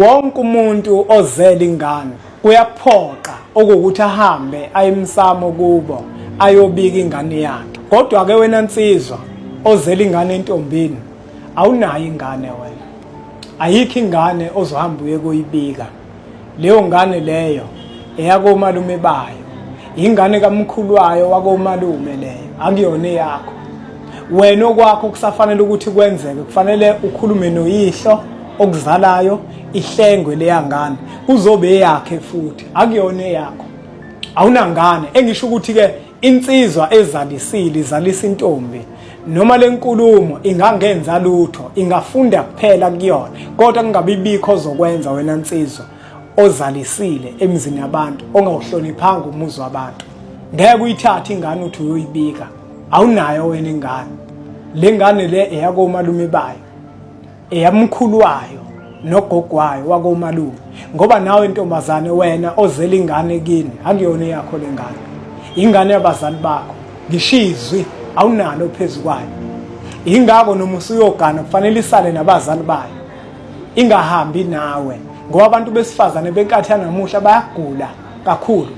Wonke umuntu ozele ingane kuyaphoqa okuwukuthi ahambe aye emsamo kubo ayobika ingane yakhe. Kodwa-ke wena nsizwa ozele ingane entombini awunayo ingane wena. Ayikho ingane ozohamba uye kuyibika. Leyo ngane leyo eyakomalume bayo. Ingane kamkhulu wayo wakomalume leyo akuyona eyakho. wena okwakho kusafanele ukuthi kwenzeke kufanele ukhulume noyihlo okuzalayo ihlengwe leyangane kuzobe eyakhe futhi akuyona eyakho awunangane engisho ukuthi ke insizwa ezalisile izalisa intombi noma lenkulumo ingangenza lutho ingafunda kuphela kuyona kodwa kungabibikho zokwenza wena nsizwa ozalisile emzini yabantu ongawuhloniphanga umuzi wabantu ngeke uyithathe ingane uthi uyoyibika awunayo wena ingane le ngane le eyakomalume bayo eyamkhulu wayo nogogo wayo wakomalume ngoba nawe ntombazane wena ozela ingane kini akuyona eyakho le ngane ingane yabazali bakho ngishizwi awunalo phezu kwayo ingako noma usuyogana kufanele isale nabazali bayo ingahambi nawe ngoba abantu besifazane benkathi yanamuhla bayagula kakhulu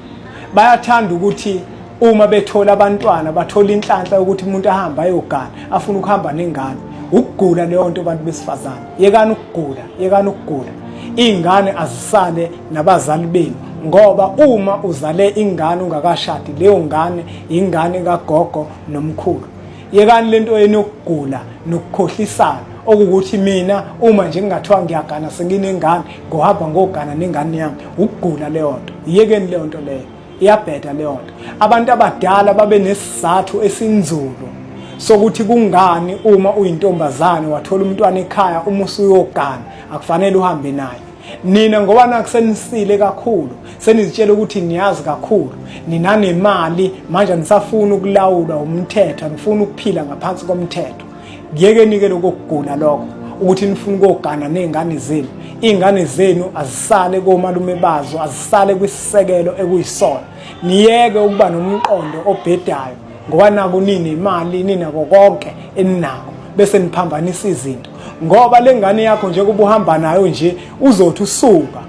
bayathanda ukuthi uma bethola abantwana bathola inhlanhla yokuthi umuntu ahambe ayogana afuna ukuhamba nengane ukugula leyo nto abantu besifazane yekani ukugula yekani ukugula iy'ngane azisale nabazali benu ngoba uma uzale ingane ungakashadi leyo ngane yingane kagogo nomkhulu yekani lento yenu yokugula nokukhohlisana okukuthi mina uma nje ngingathiwa ngiyagana senginengane ngohamba ngogana nengane yami ukugula leyo nto yekeni leyo nto leyo iyabheda leyo nto abantu abadala babe nesizathu esinzulu sokuthi kungani uma uyintombazane wathola umntwana ekhaya uma usuyogana akufanele uhambe naye nina ngoba nakho senisile kakhulu senizitshela ukuthi niyazi kakhulu ninanemali manje anisafuni ukulawulwa umthetho anifuni ukuphila ngaphansi komthetho kuyekeni-ke lokokugula lokho ukuthi nifuna ukogana ney'ngane zenu iy'ngane zenu azisale komalume bazo azisale kwisisekelo ekuyisona niyeke ukuba nomqondo obhedayo ngoba naku nini imali ninako konke eninako bese niphambanisa izinto ngoba lengane yakho nje kuba uhamba nayo nje uzothi usuka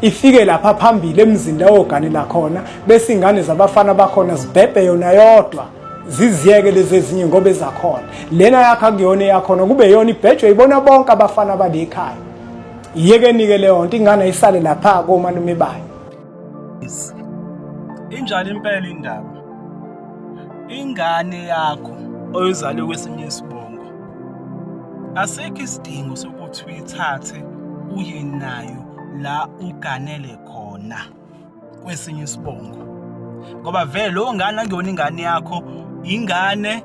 ifike lapha phambili emzini la oganela khona bese ingane zabafana bakhona zibhebhe yona yodwa ziziyeke lezi ezinye ngoba ezakhona lena yakho akuyona eyakhona kube yona ibhejwe ibona bonke abafana balekhaya yeke nike leyo nto ingane isale lapha komalume bayo Injalo impela indaba. Ingane yakho oyizale kwesinye isibongo. Asikho isidingo sokuthi uyithathe uye nayo la uganele khona kwesinye isibongo. Ngoba vele lo ngane angiyona ingane yakho, ingane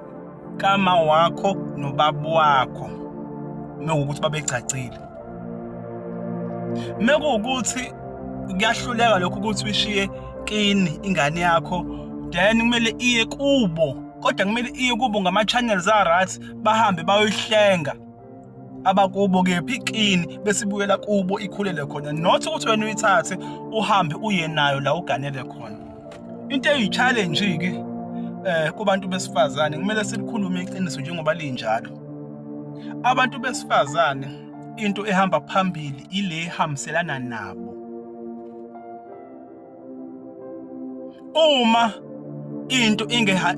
kama wakho nobaba wakho. Mewukuthi babegcagcile. mekuwukuthi kuyahluleka lokho ukuthi uyishiye kini ingane yakho then kumele iye kubo kodwa kumele iye kubo ngama-channels a-right bahambe bayoyihlenga abakubo kephi kini bese ibuyela kubo ikhulele khona not ukuthi wena uyithathe uhambe uye nayo la uganele khona into eyi-challenge ke eh kubantu besifazane kumele silikhulume iqiniso njengoba linjalo abantu besifazane into ehamba phambili ile ehambiselana nabo uma into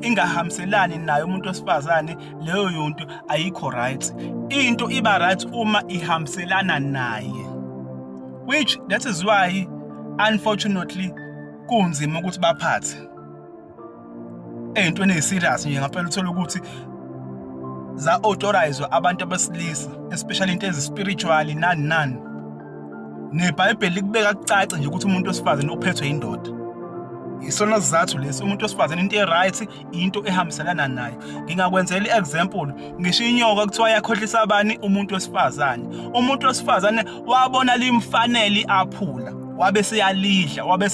ingahambiselani nayo umuntu wesifazane leyo yonto ayikho right into iba right uma ihambiselana naye which that is why unfortunately kunzima ukuthi baphathe ey'ntweni ey'serious nje ngampela uthole ukuthi za-authorize abantu abesilisa especially into ezispiritually nani nani nebhayibheli likubeka kucace nje ukuthi umuntu wesifazane uphethwe yindoda yisona sizathu lesi umuntu wesifazane into e-right into ehambiselana nayo ngingakwenzela i-example ngisho inyoka kuthiwa yakhohlisa abani umuntu wesifazane umuntu wesifazane wabona limfanele aphula wabe seyalidla wabe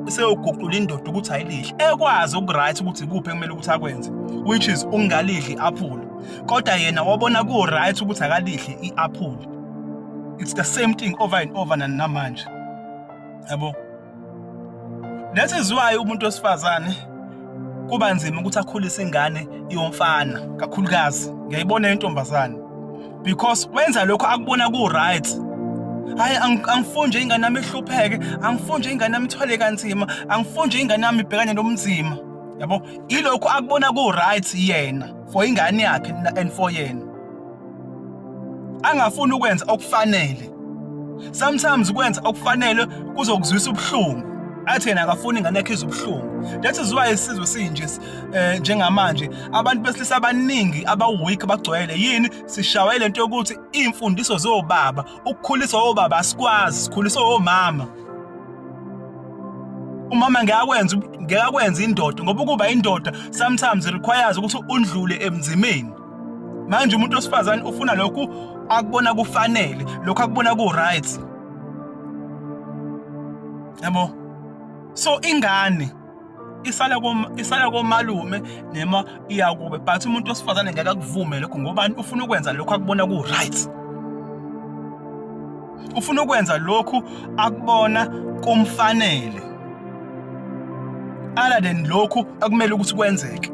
seyoguqula indoda ukuthi ayilidle ekwazi ukuright ukuthi kuphi ekumele ukuthi akwenze which is ungalidli i-aphula kodwa yena wabona ku-right ukuthi akalidli i-aphula it's the same thing over and over nanamanje yabo Nethezwayo umuntu wesifazane kuba nzima ukuthi akhulise ingane yomfana kakhulukazi ngiyayibona intombazane because wenza lokho akubona ku right hayi angifuni nje ingane yami ihlupheke angifuni nje ingane yami ithwale kanzima angifuni nje ingane yami ibhekane nobunzima yabo ilokho akubona ku right yena for ingane yakhe and for yena angafuni ukwenza okufanele sometimes kwenza okufanele kuzokuzwisa ubuhlungu athi yena akafuni ingane yakhe izubuhlungu that is why isizwe sinje eh, njengamanje abantu besilisa abaningi abaweak bagcwele yini sishawa ile nto yokuthi iy'mfundiso zobaba ukukhuliswa obaba asikwazi sikhuliswa omama umama ngeke akwenze ngeke akwenze indoda ngoba ukuba indoda sometimes requires ukuthi undlule emzimeni manje umuntu osifazane ufuna lokhu akubona kufanele lokhu akubona ku-right yabo so ingane isala kom isala komalume nema iyakube but umuntu osifazane ngeke akuvume lokho ngoba ufuna ukwenza lokho akubona ku right ufuna ukwenza lokhu akubona kumfanele other than lokhu akumele ukuthi kwenzeke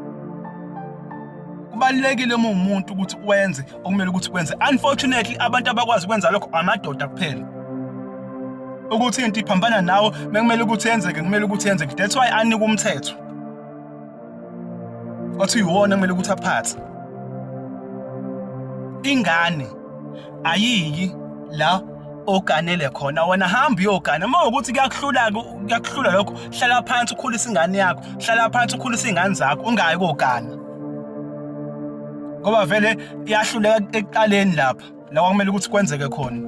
kubalulekile uma umuntu ukuthi wenze okumele ukuthi kwenze unfortunately abantu abakwazi ukwenza lokho amadoda kuphela ukuthi into iphambana nawo bekumele ukuthi yenzeke kumele ukuthi yenzeke that's why anika umthetho wathi uyiwona kumele ukuthi aphathe ingane ayiki la oganele khona wena hamba uyogana uma ukuthi kuyakuhlula kuyakuhlula lokho hlala phansi ukhulisa ingane yakho hlala phansi ukhulisa izingane zakho ungayi kogana ngoba vele iyahluleka ekuqaleni lapha la kwakumele ukuthi kwenzeke khona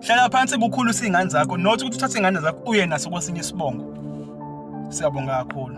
hlala phansi kukhulisa izingane zakho not ukuthi uthathe izingane zakho uye naso kwesinye isibongo siyabonga kakhulu